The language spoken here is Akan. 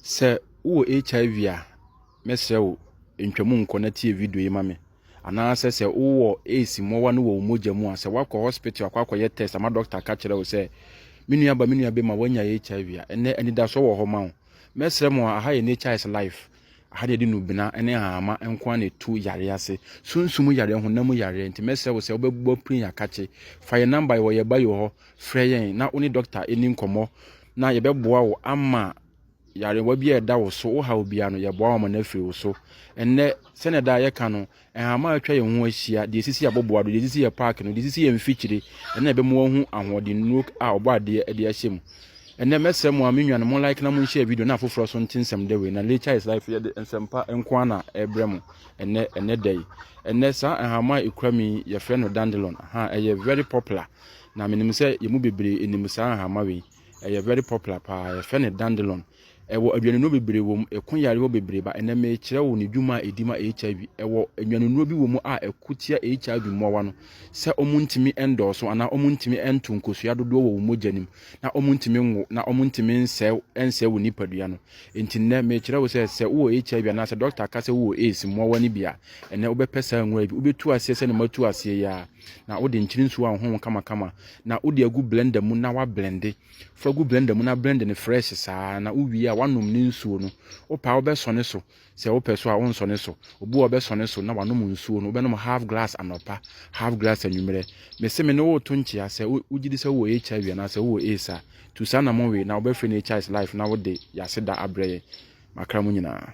Sɛ wowɔ HIV a, mɛsrɛ wo ntwa mu nkɔ na tie video yi ma me. Anaasɛ sɛ wowɔ AIDS mmoawa no wɔ wo mogya mu a, sɛ woakɔ hospital akɔ akɔyɛ test ama dɔkta aka kyerɛ wo sɛ, me nua ba, me nua bɛma woanya HIV a, ɛnɛ anidasoɔ wɔ hɔ ma wo. Mɛsrɛ mo a, aha yɛ Nature's Life. Aha na yɛde nnubena ne nhahamma nko ara na ɛtu yareɛ ase. Sunsum yareɛ, honam mu yareɛ. Nti mɛsrɛ wo sɛ wobɛbɔ pirin akakye. Fa yɛn number yi, wɔ yɛn bio hɔ, Frɛ yɛn na wo ne dɔkta nni nkɔmmɔ na yɛbɛboa wo ama yarewa bi a ɛda wo so, wo haw biara no, yɛboa wo ama no afiri wo so. Ɛnnɛ, sɛnea daa yɛka no, nhama a atwa yɛn ho ahyia, deɛ ɛsisi aboboa do, deɛ ɛsisi yɛn paake no, deɛ ɛsisi yɛn mfikyire, ɛno na ɛbɛma wɔahu ahoɔdennuro a ɔbɔ adeɛ de ahyɛ mu. Ɛnnɛ, mɛsrɛ mo a, me nuanom, mo like na mo nhyɛ video na afoforɔ nso nte nsɛm dɛ wei. Na Nature is Life yɛde nsɛmpa nko ara na ɛrebrɛ mo ɛnnɛ, ɛnnɛ da yi. Ɛnnɛ, saa nhama a ɛkura me yi, yɛfrɛ no Dandelon. Ahaa, ɛyɛ very popular. Na menim sɛ yɛn mu bebree nim saa nhama wei. Ɛyɛ very popular paa. Yɛfrɛ no dandelon. Ɛwɔ aduanennuro bebree wɔ mu. Ɛko yareɛ wɔ bebree ba. Ɛnɛ mekyerɛ wo ne dwuma a ɛdi ma HIV. Ɛwɔ nnwanennuro bi wɔ mu a ɛko tia HIV mmoawa no sɛ wɔn ntumi ndɔɔso anaa wɔn ntumi nto nkosua dodoɔ wɔ wɔn mogya no mu na wɔn ntumi nwo na wɔn ntumi nsɛe nsɛe wɔn nipadua no. Nti nnɛ mekyerɛ wo sɛ sɛ wowɔ HIV anaa sɛ dɔkta ka sɛ wowɔ AIDS mmoawa no bi a, ɛnɛ wobɛpɛ saa nwura yi bi. Wobɛtu aseɛ sɛ ne matu aseɛ yi ara. Na wode nkyene nsuo a ɔhɔho kamakama na wode agu blender mu na wablende. Fa gu blender mu na blend no fresh saa ara na wowie a woanom ne nsuo no. Wopɛ a wobɛsɔne so, sɛ wopɛ so a wonsɔne so. Obi wɔ hɔ a ɔbɛsɔne so na wanom nsuo no. Wobɛnom half glass anɔpa, half glass anwummerɛ. Mese me ne wo reto nkyea sɛ wogye di sɛ wowɔ HIV anaa sɛ wowɔ AIDS a, tu saa anammɔn wei na wobɛfrɛ no HI's Life na wode yɛn aseda abrɛ yɛn. Makra mu nyinaa.